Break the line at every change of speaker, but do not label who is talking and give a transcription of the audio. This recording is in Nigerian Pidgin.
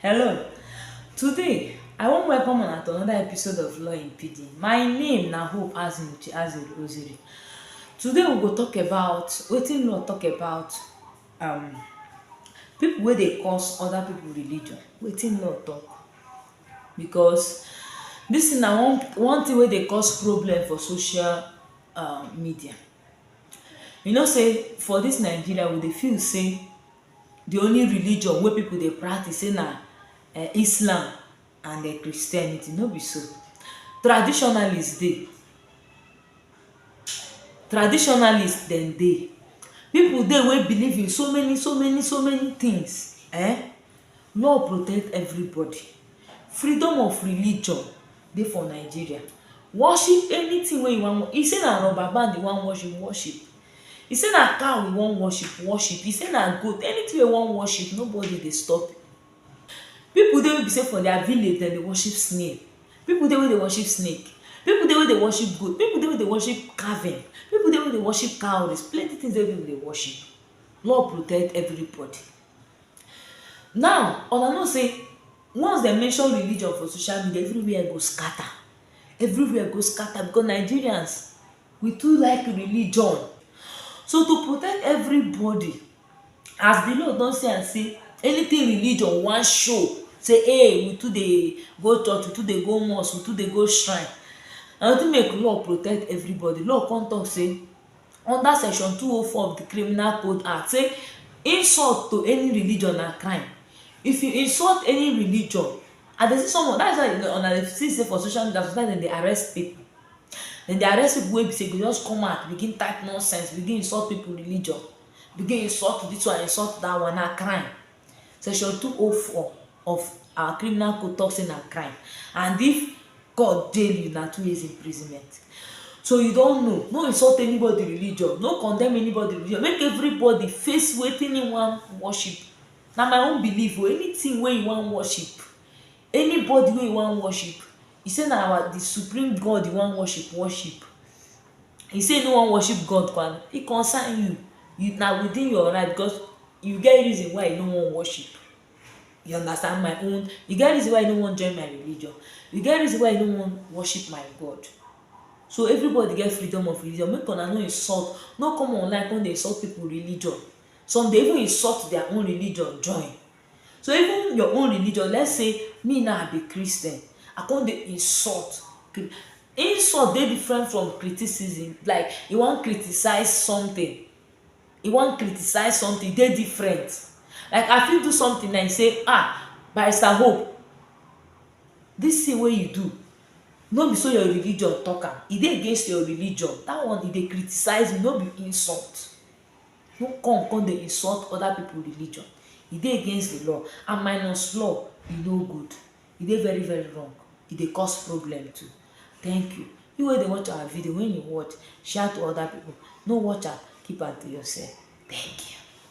Hello, today I wan welcome una to another episode of Law in PD. My name na Hope Azinuchi Aziri Oziri. Today we go talk about wetin law talk about um, people wey dey cause other people religion, wetin law talk. Because this thing na one, one thing wey dey cause problem for social um, media. You know say for this Nigeria we dey feel say di only religion wey pipu dey practice sey na um Islam and um Christianity, no be so. Traditionalist dey, traditionalist dem dey. Pipu dey wey believe in so many so many so many tins um. Law protect everybodi. Freedom of religion dey for Nigeria. Worship anytin wey you wan e sey na rubber band you wan worship, worship. He say na cow we wan worship, worship. He say na goat, anything wey you wan worship, nobody dey stop you. Pipu dey wey be sey for their village, dem dey worship snail. Pipu dey wey dey worship snake. Pipu dey wey dey worship goat. Pipu dey wey dey worship calving. Pipu dey wey dey worship cowries. Plenty things dey wey pipu dey worship. Lord protect everybody. Now, huna know sey once dem mention religion for social media, everywhere go scatter. Everywhere go scatter because Nigerians We too like religion so to protect everybody as di law don see am sey anything religion wan show sey hey we too dey go church, we too dey go mosque, we too dey go shrine na wetin make law protect everybody, law come talk sey under section two oh four of di criminal code act sey insult to any religion na crime if you insult any religion and dem see someone, dat is why una dey see sey for social media sometimes dem dey arrest people Dem dey arrest pipu wey be sey go just come out begin type nonsense, begin insult pipu religion, begin insult dis one, insult dat one, na crime. Section two oh four of our criminal code talk sey na crime and if court jail you, na two years imprisonment. So you don know, no insult anybody religion, no condemn anybody religion, make everybody face wetin e wan worship. Na my own believe oh, anything wey you wan worship, Anybody wey you wan worship, e say na our di supreme God you wan worship, worship. E say e no wan worship God kwa, e concern you, you na within your right because you get reason why you no wan worship, you understand my own, you get reason why you no wan join my religion, you get reason why you no wan worship my God. So everybody get freedom of religion, make una no insult, no come online come dey insult pipu religion, some dey even insult dia own religion join. So even your own religion, let's say me now I be Christian, I come dey insult. Insult dey different from criticism, like you wan criticize something, you wan criticize something e dey different. Like I fit do something now you say um Barrister Hope dis thing wey you do no be so your religion talk am, e dey against your religion dat one you dey criticize me no be insult. No come come dey insult other people religion, e dey against the law and minus law e no good, e dey very very wrong, e dey cause problem too. Thank you. You wey dey watch our video, when you watch, share to other people, no watch am keep am to yourself. Thank you.